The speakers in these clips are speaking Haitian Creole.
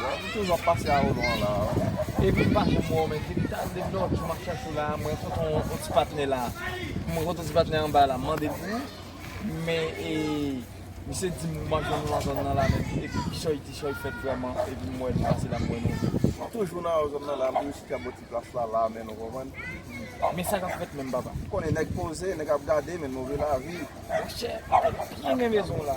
Bon m toujou ap pase a olon an la a wi. Epi m pa janm wè w men depi ta depi lè lòt jou map chache w la a m rankontre yon ti patnè la a m rankontre ti patnè anba la m mande l pou ou men e misye di m ou pa jwenn l nan zòn nan la menm epi ti chòy ti chòy fèt vrèman epi m wè nou pase la m wè nou vre. M toujou nan yon zòn nan la a m toujou chita bò ti plas la la a menn ou konprann. Men sa kap fèt menm papa. M konnen nèg poze nèg ap gade men nou vle lavi. Monchè m te byen gen bezwen w la.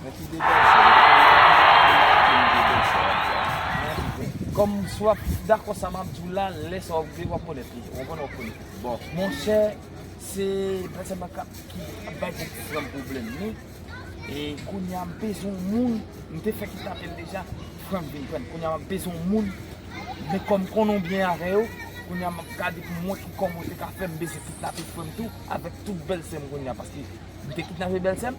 Mwen ki de bèl sè yo konya pou yo pa vin rate yon de bèl sè wap di a mwen anvi wè. Kòm si wap dakò sa map diw la lè sa wap vle wap konèt li ou konprann wap konèt li bon monchè se Bèlsè Makap ki ap bay pwogram pwoblèm ni e kounya m bezwen yon moun m te fè kèk apèl deja Frank vin prann kounya map bezwen yon moun men kòm m konnenw byen avè yo kounya map gade pou m wè ki kòman ou te ka fè m bezwen kidnape frèm tou avèk tout bèlsèm kounya paske m te kidnape bèlsèm.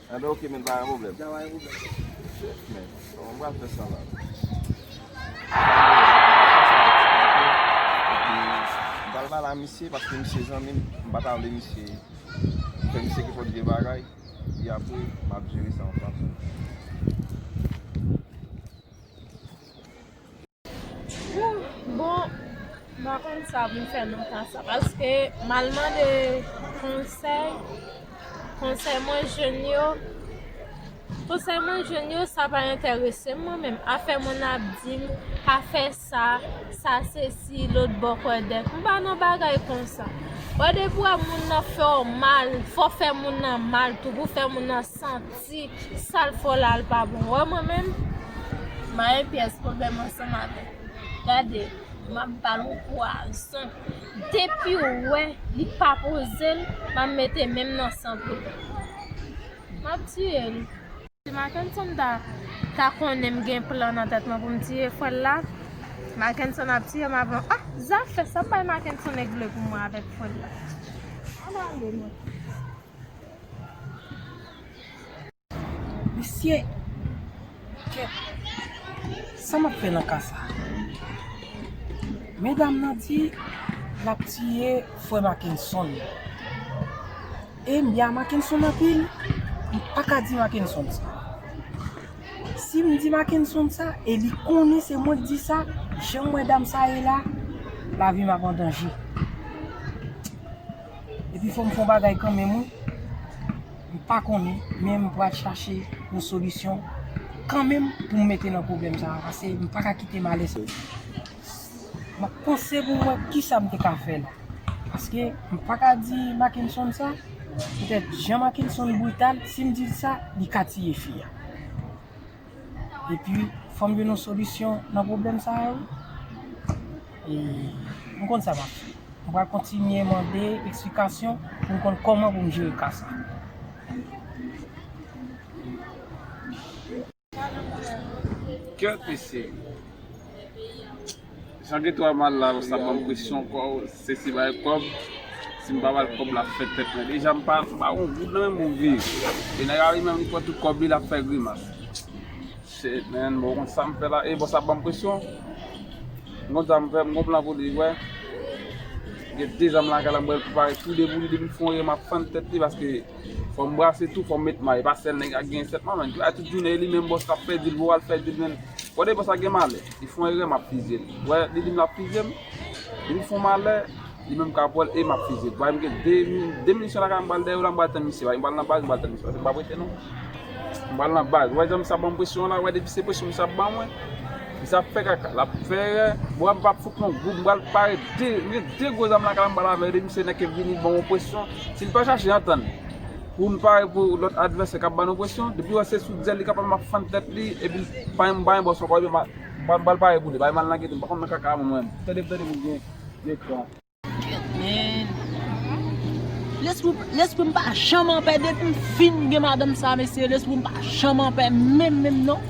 Ebyen ok men pa gen pwoblèm. Nan pa gen pwoblèm. Shit men. Bon mwen pral fè sa la. M pral pale a misye paske misye zanmi m. M pa ta vle misye fè misye ki fòt vye bagay. Epi apre m ap jere sa an fransè. Ooh bon m pa konn sa pou m fè non kasa paske m al mande konsèy konsèy mwen jwenn yo konsèy mwen jwenn yo sa pa enterese m mwen menm afè moun ap di m pa fè sa sa se si lôt bò kwè dèk m pa nan bagay konsa wè depi w wè moun nan fè w mal fò w fè moun nan mal tou pou w fè moun nan santi. Si sal fò la al pa bon wè mwen menm mayen pyès pwoblèm ansanm avèk ou gade map bal on pwazon depiw wè li pa pozel map mete menm nan san pou li map tiyel si makenson ta konnen m gen plan nan tèt mwen pou m tiye frè l la makenson ap tiyem avan ah zafè sa bay makenson nèg vle pou mwen avèk frè l la al ale mwen. Misye kèt sa map fè nan ka sa. Medam nan di lap tiye frè Makenson. E m bya Makenson anpil, m paka di Makenson sa. Si m di Makenson sa e li konnen se mwen k di sa, jan m wè dam sa ye la, lavi m ap an danje. Epi fòm fon bagay kanmenm wi. M pa konnen men m pral chache yon solisyon kanmenm pou m mete nan pwoblèm sa pase m pa ka kite malè sa. M ap panse pou m wè kisa m te ka fè la. Paske m pa ka di Makenson sa, petèt jan Makenson brital si m di l sa li ka tiye fi a. Epi fò m jwenn yon solisyon nan pwoblèm sa yo. E m konn sa m ap fè. M pral kontinye mande eksplikasyon pou m konn kòman pou m jere ka sa. Kè pese m. Jan Geto a mal la yo sa ban m presyon kò se si bay kòb, si m pa ba l kòb l ap fè tèt mwen. Deja m pa m pa gen yon goud nan men m pou m viv. E nèg la li menm li pran tout kòb li l ap fè grimas. Shit man mwen konn sam fè la ee boss ap banm presyon m konn sam fè m gon plan pou li wè gen 2 zan m lakay la m bal prepare tou 2 pou li depi l fon ri map fann tèt li paske fòm brase tou fòm met may e pa sèl nèg ak gen 7 man menn a tout jounen e li menm boss kap fè dil pou al fè dil menn gade boss la gen malè li fon erè map fizye l wè li dim lap fizye m depi l fon malè. Li menm kap wèl e map fizil. Bay m gen 2 min 2 minisyon lakay m bal dèyè w la m bal tann misye bay m bal nan baz m bal tann misye pase m pa prete non m bal nan baz wè jan misye banm presyon an la wè depi se presyon misye ap ban mwen misye ap fè kaka lap fè erè bwa m pap fout non gou m bal pare 2 m gen 2 gwo zam lakay la m bal avèl e misye nan kep vini banm yon presyon si l pa chache antann pou n pare pou lòt advèsè kap ban nou presyon depi wè se sou zèl li kap al map fann tèt li epi bay m bay m bòs ankò epi m bal pare pou li bay m al nan gete m pa konn nan kaka a mwen menm tande m tande m ou byen. Lesprim pa janm anpè depim fin gen madanm sa mesye lesprim pa janm anpè menm menm non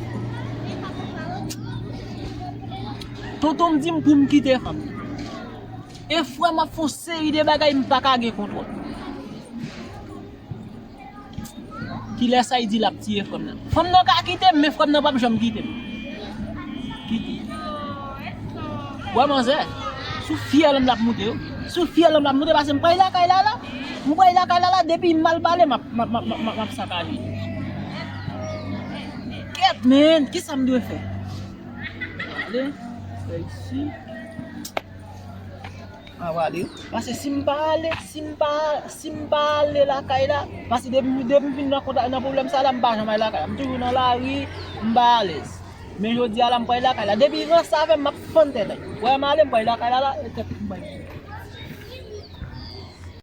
Tontonm dim poum kite fanm nan E frèm ap fon seri de bagay m paka gen kontwòl. Kilè saïdy lap tiye frèm nan. Fanm nan ka kitem men frèm nan pap janm kitem. Wè manzè sou fyèlm lap moute yo. Sou fyèlm lap moute pasem pray lakay lala. M pray lakay lala depim mal pale map sakaje. Kèt men kisam dwe fè. Mwen ale fè isi. Mwen wale wi. Pase sim pa ale sim pa sim pa ale lakay la pase depi depi fin nan kontak nan problèm sa la m pa janm ale lakay la m toujou nan lari m pa alèz men jodi a la m prale lakay la depi ranse avèm map fann tèt wèm ale m prale lakay la la tèt m bay.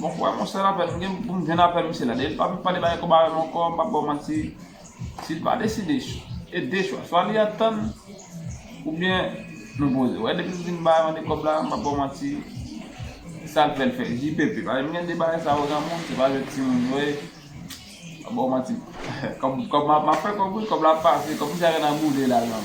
Bon kouraj mon cher apèn m gen pou m jwenn apèl misye la dèyèl pa vle pale bagay kòb avèm ankò m pap baw manti sil pa deside e de chwa swa li antann oubyen nou poze wè depil fin bay mande kòb la m pap baw manti sal fèl fè JPP paske m gen de bagay sa yo nan moun se pa jwèt ti moun yo ye m pap baw manti kòb map fè kòb wi kòb la ap pase kòb misye a gen nan boule la nan.